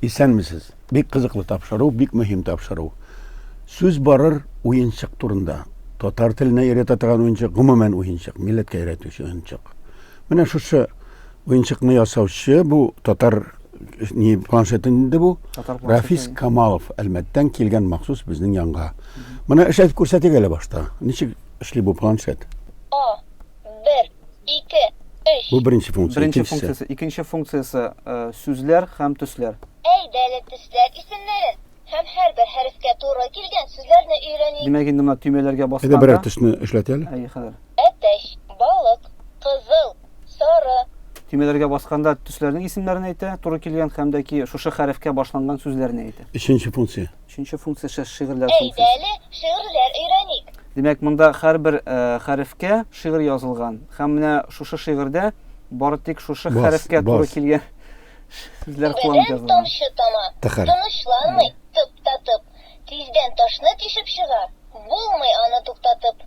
Исәнмесез. Бик кызыклы тапшыру, бик мөһим тапшыру. Сүз барыр уенчык турында. Татар теленә өйрәтә торган уенчык, гомумән уенчык, милләткә өйрәтүче уенчык. Менә шушы Уенчыкны ясаучы бу татар ни планшеты инде бу. Рафис Камалов Әлмәттән килгән махсус безнең янга. Моны эшләтеп күрсәтик әле башта. Ничек эшли бу планшет? А, бер, ике, өч. Бу беренче функция. Беренче функциясе. Икенче функциясе сүзләр һәм төсләр. Әйдә әле төсләр исемнәрен. Һәм һәрбер хәрефкә туры килгән сүзләрне өйрәник. Димәк инде менә төймәләргә басканда. Әйдә берәр төсне эшләт әле. Әйе, хәзер. Әтәч, балык, кызыл, сары. Төймәләргә басканда төсләрнең исемнәрен әйтә, туры килгән һәм дә ки шушы хәрефкә башланган сүзләрне әйтә. Өченче функция. Өченче функция шә шигырьләр функциясе. Әйдә әле шигырьләр өйрәник. Димәк, монда һәрбер хәрефкә шигырь язылган һәм менә шушы шигырьдә бары тик шушы хәрефкә туры килгән Сүзләр Күбәдән куанып язылган. тамчы тама. Тыхыр. Тынычланмый, тып та тып. Тиздән ташны тишеп чыга. Булмый аны туктатып.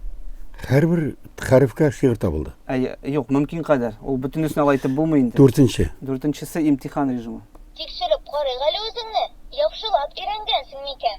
Һәрбер хәрефкә шигырь табылды. Әйе, юк, мөмкин кадәр. Ул бөтенесен алай итеп булмый инде. Дүртенче. Дүртенчесе, имтихан режимы. Тикшереп карыйк әле үзеңне. Яхшылап өйрәнгәнсең микән?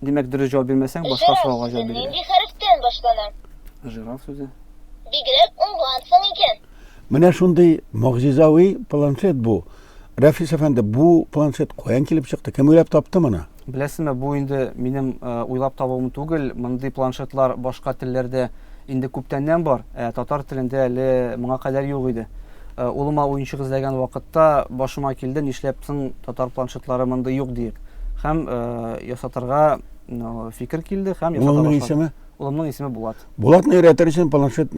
Димәк, дөрес җавап бирмәсәң, башка сорауга җавап бирергә. Нинди хәрефтән башлана? Жираф сүзе. Бигрәк уңгансың икән. Менә шундый могҗизави планшет бу. Рәфис әфәнде, бу планшет каян килеп чыкты? Кем уйлап тапты моны? Беләсезме, бу инде минем э, уйлап табуым түгел. Мондый планшетлар башка телләрдә инде күптәннән бар, ә татар телендә әле моңа кадәр юк иде. Э, улыма уенчык эзләгән вакытта башыма килде, нишләп соң татар планшетлары мондый юк диеп. Һәм э, ясатырга ну, фикер килде һәм ясата Улымның башлады. исеме? Улымның исеме Булат. Булатны өйрәтер өчен планшет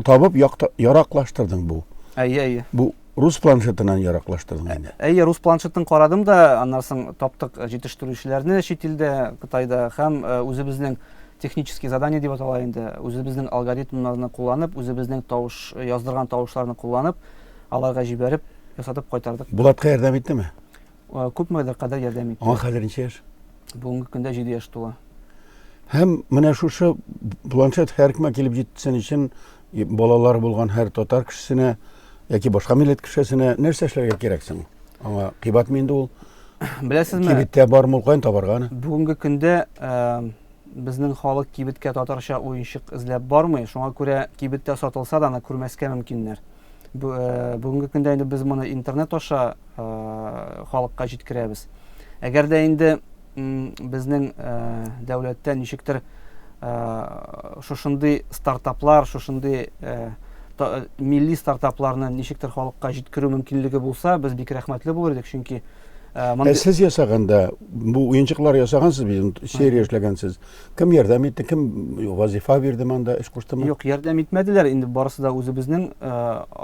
табып якта- яраклаштырдың бу. Әйе, әйе. Бу рус планшетынан яраклаштырдың инде. Әйе, рус планшетын карадым да, аннан соң таптык э, җитештерүчеләрне чит илдә, Кытайда һәм э, үзебезнең технический задание дип атала инде, үзебезнең алгоритмнарны кулланып, үзебезнең тавыш э, яздырган тавышларны кулланып, аларга җибәреп, ясатып кайтардык. Булатка ярдәм иттеме? Күпме дә кадәр ярдәм итте? Аңа хәзер ничә яшь? Бүгенге көндә 7 яшь тула. Һәм менә шушы планшет һәркемә килеп җитсен өчен балалар булган һәр татар кешесенә яки башка милләт кешесенә нәрсә эшләргә кирәк соң? Аңа кыйбатмы инде ул? Беләсезме? Кибеттә бармы ул каян табарга аны? Бүгенге көндә безнең халык кибеткә татарча уенчык эзләп бармый. Шуңа күрә кибеттә сатылса да аны күрмәскә мөмкиннәр. бүгенге көндә инде без моны интернет аша халыкка җиткерәбез әгәр дә инде безнең дәүләттә ничектер шушындый стартаплар шушындый милли стартапларны ничектер халыкка җиткерү мөмкинлеге булса без бик рәхмәтле булыр идек чөнки ә сез ясаганда бу уенчыклар ясагансыз бит серия эшләгәнсез Кем ярдәм итте, кем вазифа бирде монда, эш куштымы? Юк, ярдәм итмәделәр. Инде барысы да үзебезнең э,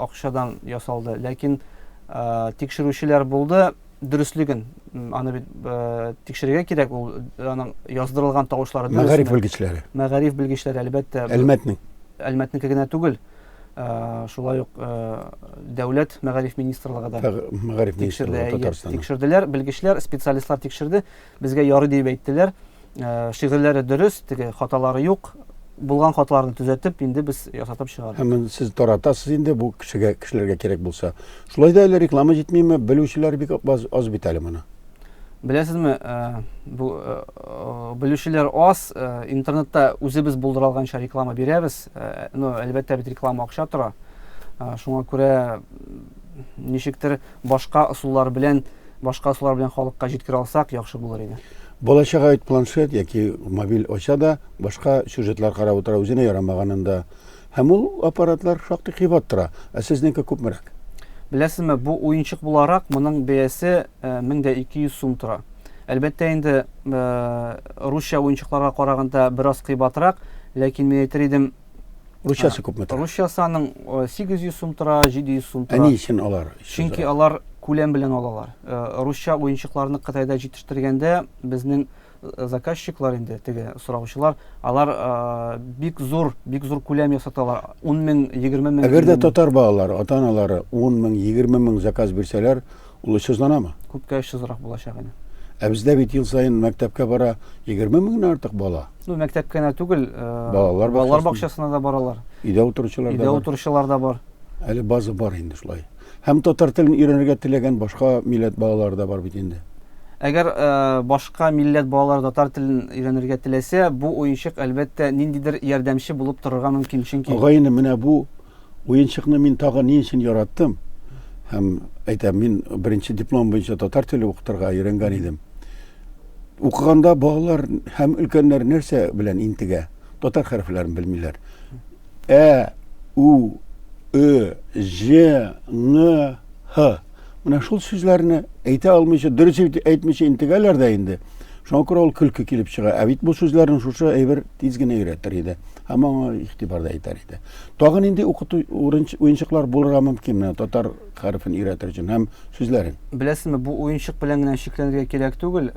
акчадан ясалды. Ләкин э, тикшерүчеләр булды, дөреслеген. Аны бит э, тикшерергә кирәк, ул аның яздырылган тавышлары дөресме? Мәгариф белгечләре. Мәгариф белгечләре, әлбәттә. Әлмәтнең. Әлмәтнеке генә түгел. Э, шулай ук э, дәүләт мәгариф министрлыгы да мәгариф министрлыгы Татарстан тикшерделәр белгечләр специалистлар тикшерде Безгә ярый диеп әйттеләр. Э, шигырьләре дөрес, теге хаталары юк. Булган хаталарны төзәтеп, инде без ясатып чыгардык. Һәм сез таратасыз инде бу кешегә, кешеләргә кирәк булса. Шулай да әле реклама җитмиме? Белүчеләр бик аз, аз бит әле моны. Беләсезме, э, бу э, белүчеләр аз, интернетта үзебез булдыра алганча реклама бирәбез. Ну, әлбәттә бит реклама акча тора. Шуңа күрә ничектер Башка ысуллар белән, башка ысуллар белән халыкка җиткерә алсак, яхшы булыр иде. Бала-чага бит планшет яки мобиль ача да, башка сюжетлар карап утыра, үзенә ярамаганын да. Һәм ул аппаратлар шактый кыйбат тора. Ә сезнеке күпмерәк? Беләсезме, бу уенчык буларак, моның бәясе 1200 сум тора. Әлбәттә инде, русча уенчыкларга караганда бераз кыйбатрак, ләкин мин әйтер идем, Русчасы күпме тора? Русчасы аның 800 сум тора, 700 сум тора. Ә ни өчен алар? Чөнки алар күләм белән алалар. Русча уенчыкларны Кытайда җитештергәндә безнең заказчиклар инде теге сораучылар алар ә, бик зур бик зур күләм ясаталар ун мең егерме мең әгәр дә татар балалары ата аналары ун мең егерме мең заказ бирсәләр Ул 300 данамы? Күпкә 300 рак булачак инде. Ә бездә бит ел саен мәктәпкә бара 20 меңнән артык бала. Ну, мәктәпкә генә түгел, э, балалар, балалар бакчасына да баралар. Өйдә утыручылар да бар. Өйдә утыручылар да бар. Әле база бар инде шулай. Һәм татар телен өйрәнергә теләгән башка милләт балалары да бар бит инде. Әгәр э, башка милләт балалары татар телен өйрәнергә теләсә, бу уенчык әлбәттә ниндидер ярдәмче булып торырга мөмкин, чөнки Агай менә бу Уенчыкны мин тагын ни өчен яраттым? Һәм әйтәм, мин беренче диплом буенча татар теле укытырга өйрәнгән идем. Укыганда балалар һәм өлкәннәр нәрсә белән интегә? Татар хәрефләрен белмиләр. Ә, у, ө, ж, ң, һ. Менә шул сүзләрне әйтә алмыйча, дөрес итеп әйтмичә интегәләр дә инде. Шуңа күрә ул көлке килеп чыга. Ә бит бу сүзләрне шушы әйбер тиз генә өйрәтер иде. Һәм аңа игътибар да итәр иде. Тагын нинди укыту уенчыклар булырга мөмкин менә татар хәрефен өйрәтер өчен һәм сүзләрен? Беләсезме, бу уенчык белән генә чикләнергә кирәк түгел.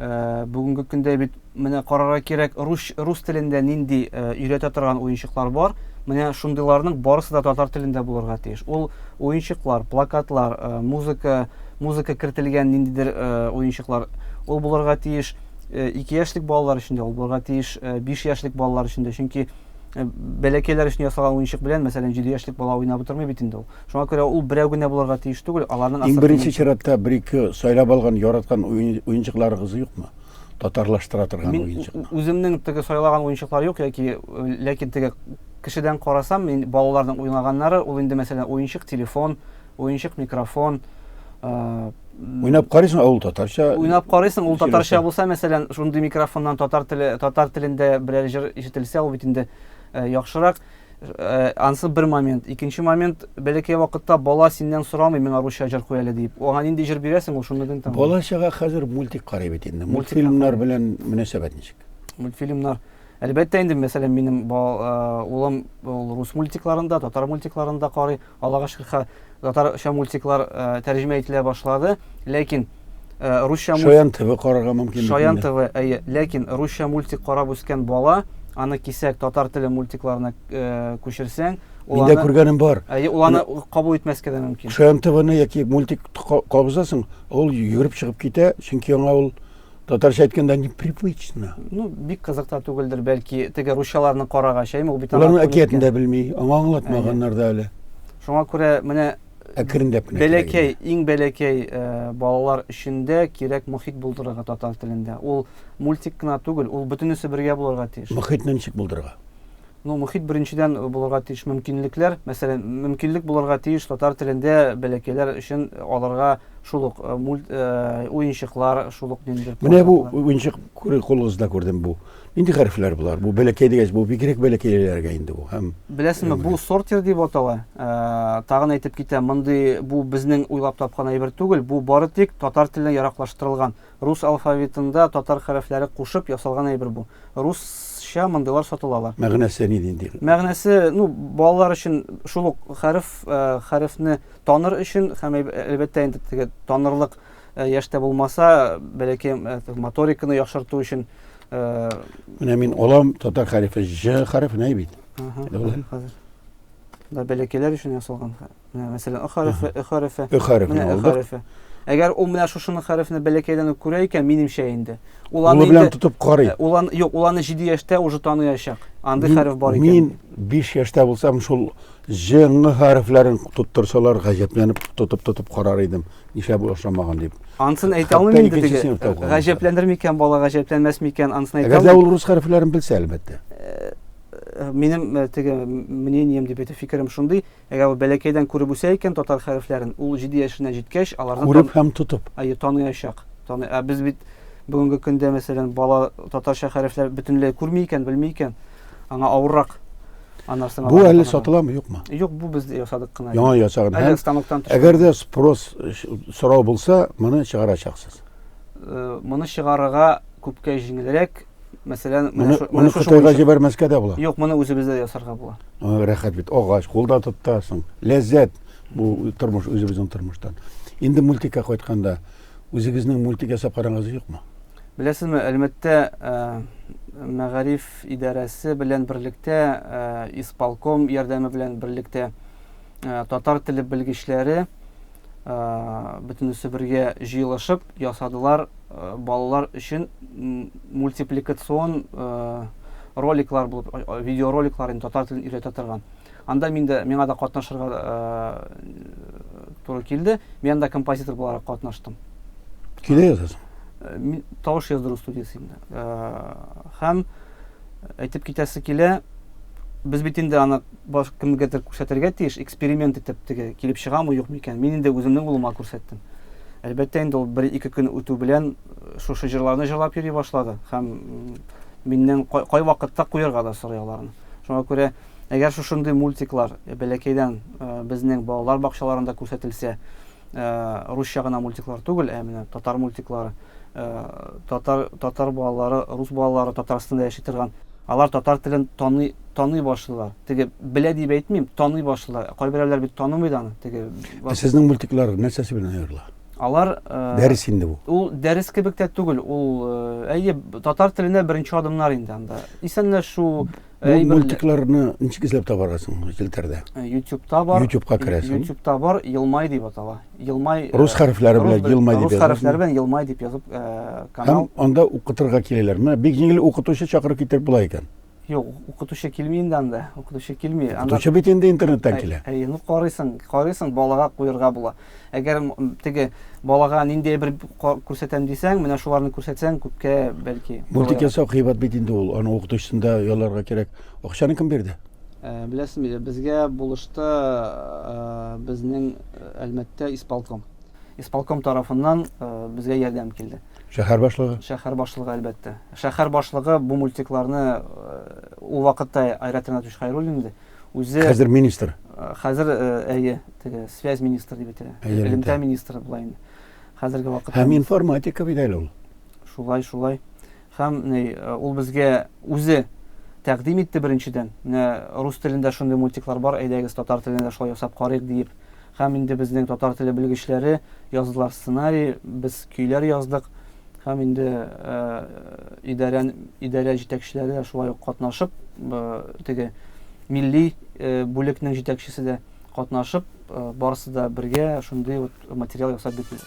Бүгенге көндә бит Менә карарга кирәк, рус, рус телендә нинди өйрәтә торган уенчыклар бар. Менә шундыйларның барысы да татар телендә булырга тиеш. Ул уенчыклар, плакатлар, музыка, музыка кертелгән ниндидер уенчыклар, ул булырга тиеш. Ике яшьлек балалар өчен дә ул булырга тиеш, биш яшьлек балалар өчен дә. Чөнки бәләкәйләр өчен ясалган уенчык белән, мәсәлән, 7 яшьлек бала уйнап утырмый бит инде ул. Шуңа күрә ул берәү генә булырга тиеш түгел, аларның Иң беренче чиратта бер-ике сайлап алган, яраткан уенчыкларыгыз юкмы? татарлаштыра торган уенчык. Мин үземнең теге сайлаган уенчыклар юк яки э, ләкин теге кешедән карасам, мин балаларның уйнаганнары, ул инде мәсәлән уенчык телефон, уенчык микрофон, э, Уйнап карыйсың, ә ул татарча. Уйнап карыйсың, ул татарча булса, мәсәлән, шундый микрофоннан татар теле, татар телендә берәр җыр ишетелсә, ул бит инде э, яхшырак. Э, ансы бер момент. Икенче момент, бәләкәй вакытта бала синнән сорамый, миңа русча җыр куй әле дип. Аңа нинди җыр бирәсең, ул шуны гын тыңлый. Бала чага хәзер мультик карый бит инде. Мультфильмнар белән мөнәсәбәт ничек? Мультфильмнар. Әлбәттә инде, мәсәлән, минем э, улым ул рус мультикларында, татар мультикларында карый. Аллага шөкер, хә, татарча мультиклар э, тәрҗемә ителә башлады, ләкин э, русча мультик... Шаян ТВ карарга мөмкин. Шаян ТВ, әйе, ләкин русча мультик карап үскән бала, аны кисәк татар теле мультикларына э, күчерсәң, ул аны... күргәнем бар. Әйе, ул аны кабул итмәскә дә мөмкин. Шаян ТВны яки мультик кабызасың, ул йөгереп чыгып китә, чөнки аңа ул Татарча әйткәндә непривычно. Ну, бик кызыкта түгелдер, бәлки теге русчаларны карагач, әйме ул бит Аларның әкиятен дә белми, аңа аңлатмаганнар да әле. Шуңа күрә менә әкренләп кенә бәләкәй, иң бәләкәй э, балалар өчен дә кирәк мохит булдырырга татар телендә. Ул мультик кына түгел, ул бөтенесе бергә булырга тиеш. Мохитне ничек булдырырга? Ну, мохит беренчедән булырга тиеш мөмкинлекләр. Мәсәлән, мөмкинлек булырга тиеш татар телендә бәләкәйләр өчен аларга шул ук э, мульт э, уенчыклар, шул ук ниндидер. Менә бу уенчык күрер кулыгызда күрдем бу. Нинди хәрефләр булар? Бу бәләкәй дигәч, бу бигрәк бәләкәйләргә инде бу. Һәм Беләсезме, бу сортир дип атала. Э, тагын әйтеп китәм, мондый бу безнең уйлап тапкан әйбер түгел, бу бары тик татар теленә яраклаштырылган. Рус алфавитында татар хәрефләре кушып ясалган әйбер бу. Русча мондыйлар сатылалар. Мәгънәсе ни нинди? Мәгънәсе, ну, балалар өчен шул ук хәреф, э, хәрефне таныр өчен һәм әлбәттә инде теге танырлык э, яшьтә булмаса, бәләкәй э, моториканы яхшырту өчен э, Менә мин алам татар хәрефе Ж хәрефенә бит. Ага, Дәүләт. хәзер. Да, бәләкәйләр өчен ясалган хәреф. Менә мәсәлән, ы хәрефе, ы хәрефе. Ы хәрефен Менә ы алдык. хәрефе. Әгәр ул менә шушының хәрефне бәләкәйдән үк күрә икән, минемчә инде. Ул аны Кулы белән инде тотып карый. Э, Ул аны юк, ул аны 7 яшьтә уже таныячак. Андый хәреф бар икән. Мин 5 яшьтә булсам, шул ж, ң хәрефләрен тоттырсалар, гаҗәпләнеп тотып-тотып карар идем. Нишләп ул ашамаган дип. Ансын әйтә Хәтта алмыйм инде икенче теге. сыйныфта укыган. Гаҗәпләнер микән бала, гаҗәпләнмәс микән, ансын әйтә Әгәр дә алмыйм. ул рус хәрефләрен белсә, әлбәттә. Э, Минем э, теге мнением дип әйтә фикерем шундый. Әгәр ул бәләкәйдән күреп үсә икән татар хәрефләрен, ул җиде яшенә җиткәч, аларны Күреп тан... һәм тотып. Әйе, таныячак. Таны... Ә без бит бүгенге көндә, мәсәлән, бала татарча хәрефләр бөтенләй күрми икән, белми икән, аңа авыррак. Анарсын Бу әле сатыламы, юкмы? Юк, бу без ясадык кына. Яңа ясаган. Әле станоктан төшкән. Әгәр дә спрос сорау булса, моны чыгарачаксыз. Э, моны чыгарырга күпкә җиңелрәк, Мәсәлән, менә моны Кытайга җибәрмәскә дә була. Юк, моны үзебездә ясарга була. Рәхәт бит, агач, кулда тотасың. Ләззәт бу тормыш, үзебезнең тормыштан. Инде мультикка кайтканда, үзегезнең мультик ясап карагыз юкмы? Беләсезме, әлмәттә мәгариф идарәсе белән берлектә, исполком ярдәме белән берлектә Ә, татар теле белгечләре ә, бөтенесе бергә җыелышып ясадылар ә, балалар өчен мультипликацион ә, роликлар булып, видеороликлар инде татар телен өйрәтә торган. Анда мин дә миңа да катнашырга ә, туры килде. Мин анда композитор буларак катнаштым. Килә язасың? Ә, мин тавыш яздыру студиясендә. Ә, һәм Әйтеп китәсе килә, без бит инде аны баш кемгәдер күрсәтергә тиеш, эксперимент итеп теге килеп чыгамы юк микән? Мин инде үземнең улыма күрсәттем. Әлбәттә инде ул бер ике көн үтү белән э, шушы җырларны җырлап йөри башлады һәм миннән кай, кай вакытта куярга да сорый аларны. Шуңа күрә әгәр шушындый мультиклар э, бәләкәйдән э, безнең балалар бакчаларында күрсәтелсә, русча гына мультиклар түгел, ә менә татар мультиклары Татар татар балалары, рус балалары Татарстанда яши торган, алар татар телен таный таный башлыйлар. Теге белә дип әйтмим, таный башлыйлар. Кайберәүләр бит танымый да аны. Теге Сезнең мультиклар нәрсәсе белән аерыла? Алар дәрес инде бу. Ул дәрес кебек тә түгел, ул әйе, татар теленә беренче адымнар инде анда. Исәнләшү, Әй, мультикларны ничек эзләп табарга соң челтәрдә? Э, Ютубта бар. Ютубка керәсең. Ютубта бар, Елмай дип атала. Елмай. Э, рус хәрефләре белән Елмай дип язып. Рус хәрефләре белән Елмай дип язып э, канал. Һәм анда укытырга киләләр. Менә бик җиңел укытучы чакырып китереп була икән. Юк, укытучы килми инде анда. Укытучы килми. Укытучы бит инде интернеттан килә. Әй, ну карыйсың, карыйсың, балага куярга була. Әгәр теге балага ниндәй бер күрсәтәм дисәң, менә шуларны күрсәтсәң, күпкә бәлки. Мультик ясау кыйбат бит инде ул. Аны укытучысын да ялларга кирәк. Акчаны кем бирде? Э, Беләсезме, э, безгә булышты э, безнең Әлмәттә исполком. Исполком тарафыннан безгә ярдәм килде. Шәһәр башлыгы? Шәһәр башлыгы, әлбәттә. Шәһәр башлыгы бу мультикларны ул вакытта Айрат Ринатович Хайруллин иде. үзе хәзер министр хәзер әйе теге связь министр дип әйтелә элемтә министры була инде хәзерге вакытта һәм информатика бит әле ул шулай шулай һәм ул безгә үзе тәкъдим итте беренчедән менә рус телендә шундый мультиклар бар әйдәгез татар телендә шулай ясап карыйк диеп Һәм инде безнең татар теле белгечләре яздылар сценарий, без көйләр яздык. Һәм инде идарә, идарә җитәкчеләре дә шулай ук катнашып, теге милли бүлекнең җитәкчесе дә катнашып, барысы да бергә шундый вот материал ясап бирделәр.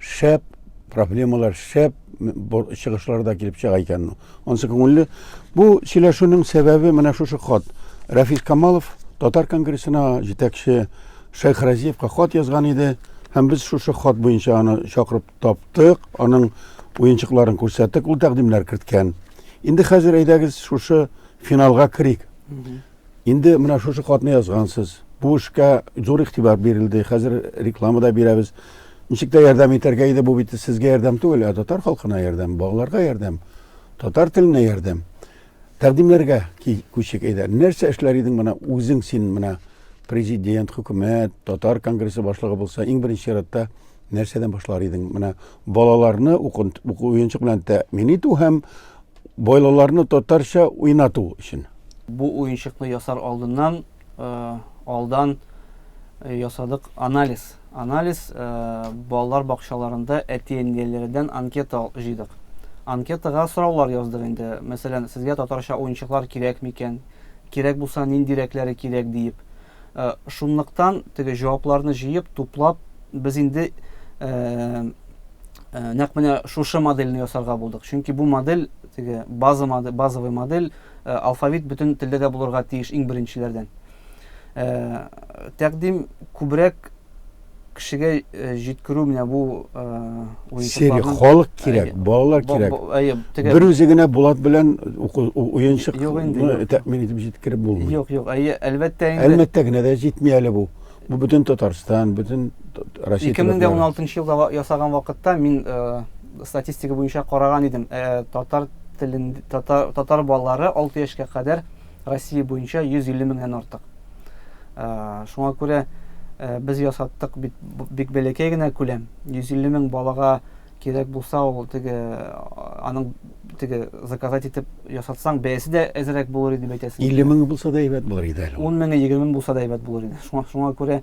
Шәп проблемалар, шәп чыгышлар да килеп чыга икән. Ну, ансы күңелле. Бу сөйләшүнең сәбәбе менә шушы хат. Рәфис Камалов татар конгрессына җитәкче Шайх Разиевка хат язган иде. Һәм без шушы хат буенча аны чакырып таптык, аның уенчыкларын күрсәттек, ул тәкъдимнәр керткән. Инде хәзер әйдәгез шушы финалга керик. Инде менә шушы хатны язгансыз. Бу эшкә зур игътибар бирелде. Хәзер реклама да бирәбез. Ничек тә ярдәм итәргә иде. Бу бит сезгә ярдәм түгел, ә татар халкына ярдәм, балаларга ярдәм, татар теленә ярдәм. Тәкъдимнәргә күчик әйдә. Нәрсә эшләр идең менә үзең син менә президент, хөкүмәт, татар конгрессы башлыгы булса, иң беренче чиратта нәрсәдән башлар идең? Менә балаларны уку уенчык белән тәэмин итү һәм Бойлыларны татарча уйнату өчен. Бу уенчыкны ясар алдыннан алдан ясадык анализ. Анализ балалар бакчаларында әти-әниләрдән анкета җыйдык. Анкетага сораулар яздык инде. Мәсәлән, сезгә татарча уенчыклар кирәк микән? Кирәк булса, ниндирәкләре кирәк диеп. Э, шунлыктан теге җавапларны җыеп туплап без инде э, э, нәкъ менә шушы модельне ясарга булдык чөнки бу модель теге база модель базовый модель алфавит бөтен телдә дә булырга тиеш иң беренчеләрдән тәкъдим күбрәк кешегә җиткерү менә бу Серия халык кирәк, балалар кирәк. Бер үзе генә булат белән уенчык тәэмин итеп җиткереп булмый. Юк, юк, әйе, әлбәттә инде. Әлбәттә генә дә җитми әле бу. Бу бөтен Татарстан, бөтен Россия. 2016 елда ясаган вакытта мин статистика буенча караган идем. Татар телен татар балалары 6 яшькә кадәр Россия буенча 150 меңнән артык. Шуңа күрә без ясаттык бит бик бәләкәй генә күләм. 150 мең балага кирәк булса, ул теге аның теге заказать итеп ясатсаң, бәясе дә әзерәк булыр иде дип әйтәсең. 50 мең булса да әйбәт булыр иде әле. 10 меңе, 20 мең булса да әйбәт булыр иде. Шуңа, шуңа күрә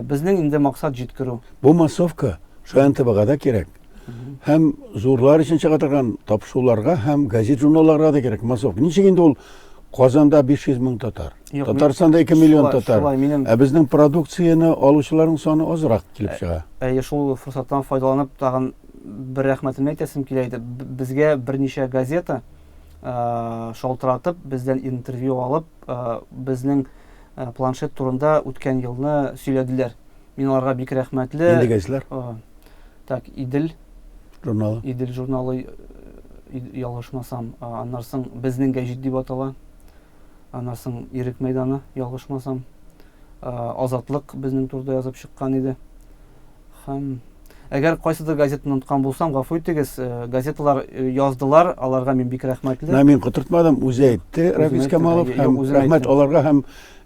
безнең инде максат җиткерү. Бу массовка Шаян ТБга да кирәк. һәм зурлар өчен чыга торган тапшыруларга һәм газет журналларга да кирәк массовка ничек инде ул казанда 500 мең татар татарстанда 2 миллион татар ә безнең продукцияне алучыларның саны азрак килеп ә, чыга әйе шул форсаттан файдаланып тагын бер рәхмәтемне әйтәсем килә иде безгә берничә газета ә, шалтыратып бездән интервью алып ә, безнең планшет турында үткән елны сөйләделәр Мин аларга бик рәхмәтле. Нинди газеталар? Так, Идел журналы. Идел журналы ялгышмасам, аннан соң безнең гәҗит дип атала. Аннан соң Ирек мәйданы ялгышмасам. Азатлык безнең турда язып чыккан иде. Һәм Әгәр кайсыдыр газетаны оныткан булсам, гафу итегез, э, газеталар э, яздылар, аларга мин бик рәхмәтле. Мин котыртмадым, үзе әйтте, Рафис Камалов, һәм рәхмәт аларга һәм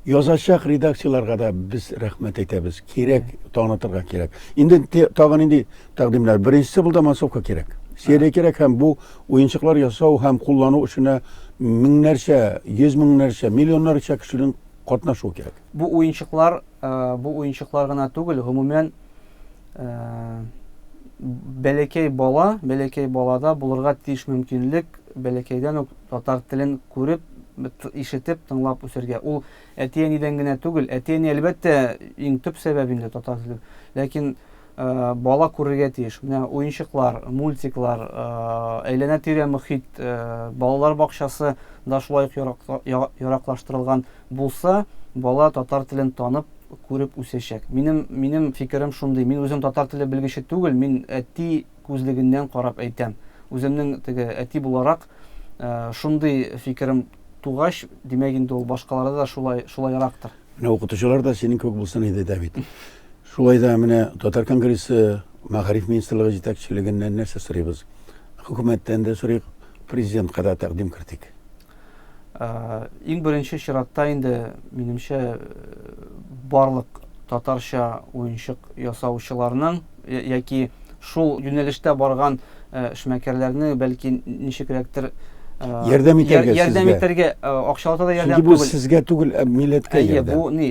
Язачак редакцияләргә дә без рәхмәт әйтәбез. Кирәк, танытырга кирәк. Инде тагын нинди тәкъдимнәр? Беренчесе булды массовка кирәк. Серия кирәк һәм бу уенчыклар ясау һәм куллану эшенә меңнәрчә, йөз меңнәрчә, миллионнарча кешенең катнашуы кирәк. Бу уенчыклар, бу уенчыклар гына түгел, гомумән, бәләкәй бала, бәләкәй балада булырга тиеш мөмкинлек бәләкәйдән үк Татар телен күреп, ишетеп, тыңлап үсәргә. Ул әти-әнидән генә түгел. Әти-әни, әлбәттә, иң төп сәбәп инде татар теле. Ләкин э, бала күрергә тиеш. Менә уенчыклар, мультиклар, э, әйләнә-тирә мөхит, э, балалар бакчасы да шулай ук яраклаштырылган булса, бала татар телен танып, күреп үсәчәк. Минем минем фикерем шундый. Мин үзем татар теле белгече түгел, мин әти күзлегеннән карап әйтәм. Үземнең теге әти буларак шундый фикерем тугач, димәк инде ул башкаларда да шулай, шулайрактыр. Менә укытучылар да синең кебек булсын иде дә бит. Шулай да менә Татар конгрессы мәгариф министрлыгы җитәкчелегеннән нәрсә сорыйбыз? Хөкүмәттән дә сорыйк, президентка да тәкъдим кертик. Иң беренче чиратта инде, минемчә, барлык татарча уенчык ясаучыларның яки шул юнәлештә барган эшмәкәрләрне бәлки ничекрәктер ярдәм итәргә ярдәм итәргә акчалата да ярдәм түгел. Бу сезгә түгел, ә милләткә ярдәм. Әйе, бу ни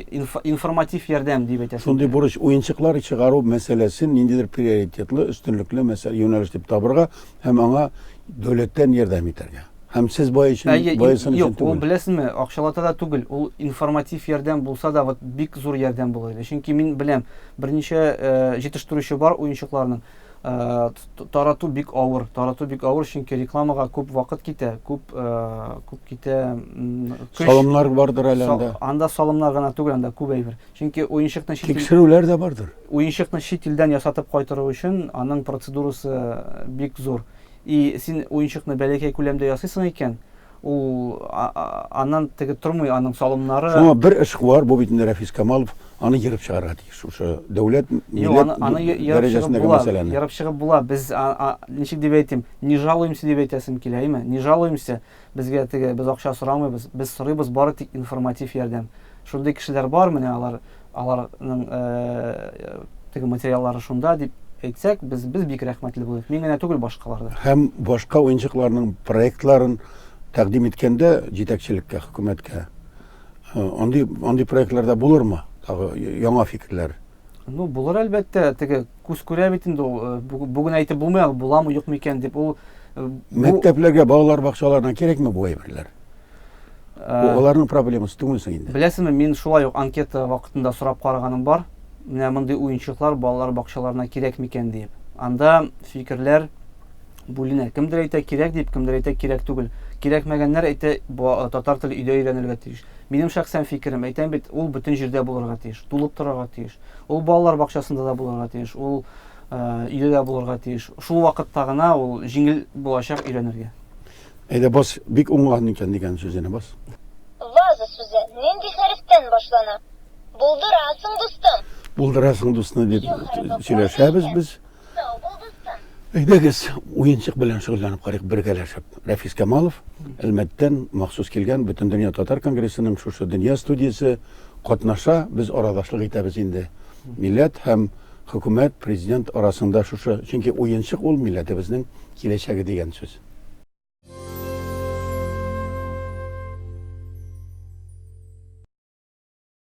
информатив ярдәм дип әйтәсез. Шундый бурыч уенчыклар чыгару мәсьәләсен ниндидер приоритетлы, өстенлекле мәсьәлә юнәлеш дип табырга, һәм аңа дәүләттән ярдәм итәргә. Һәм сез бай өчен, Әйе, бай өчен юк, түгел. Ул беләсезме, акчалата да түгел. Ул информатив ярдәм булса да, вот бик зур ярдәм булыр иде. Чөнки мин беләм, берничә э, җитештерүче бар уенчыкларның. Э, тарату бик авыр, тарату бик авыр, чөнки рекламага күп вакыт китә, күп э, күп китә көч. Салымнар бардыр әле анда. Анда салымнар гына түгел, анда күп әйбер. Чөнки уенчыкны тикшерүләр дә бардыр. Уенчыкны чит илдән ясатып кайтыру өчен аның процедурасы бик зур. И син уенчыкны бәләкәй күләмдә ясыйсың икән, ул аннан теге тормый, аның салымнары. Шуңа бер эшкуар, бу бит инде Рәфис Камалов, аны ерып чыгарга тиеш. Шушы дәүләт, милләт дәрәҗәсендәге мәсьәләне. Ерып чыгып була. Без ничек дип әйтим, не жалуемся дип әйтәсем килә, әйме? Не жалуемся. Безгә теге, без акча сорамыйбыз, без сорыйбыз бары тик информатив ярдәм. Шундый кешеләр бар, менә алар, аларның теге материаллары шунда дип әйтсәк, без без бик рәхмәтле булыйк. Мин генә түгел, башкалар да. Һәм башка уенчыкларның проектларын тәкъдим иткәндә җитәкчелеккә, хөкүмәткә, андый андый проектларда булырмы? Тагы яңа фикерләр. Ну, булыр әлбәттә, теге күз күрә бит инде ул. Э, бүген әйтеп булмый ул буламы, юкмы икән дип. Ул э, мәктәпләргә, балалар бакчаларына кирәкме бу әйберләр? Э, аларның проблемасы түгелсең инде. Беләсеңме, мин шулай ук анкета вакытында сорап караганым бар. Менә мондый уенчыклар балалар бакчаларына кирәкме икән дип. Анда фикерләр бүленә. Кемдер әйтә кирәк дип, кемдер әйтә кирәк түгел. Кирәкмәгәннәр әйтә, бу татар теле өйдә өйрәнелергә тиеш. Минем шәхсән фикерем, әйтәм бит, ул бөтен җирдә булырга тиеш, тулып торырга тиеш. Ул балалар бакчасында да булырга тиеш, ул өйдә дә булырга тиеш. Шул вакытта гына ул җиңел булачак өйрәнергә. Әйдә бас, бик уңган икән дигән сүзенә бас. Ваза сүзе нинди хәрефтән башлана? Булдырасың, дустым! Булдырасың, дустны, дип сөйләшәбез без. Сау бул, дустым. Әйдәгез, уенчык белән шөгыльләнеп карыйк бергәләшеп. Рәфис Камалов, Әлмәттән махсус килгән Бөтендөнья татар конгрессының шушы дөнья студиясе катнаша, без арадашлык итәбез инде. Милләт һәм хөкүмәт, президент арасында шушы, чөнки уенчык ул милләтебезнең киләчәге дигән сүз.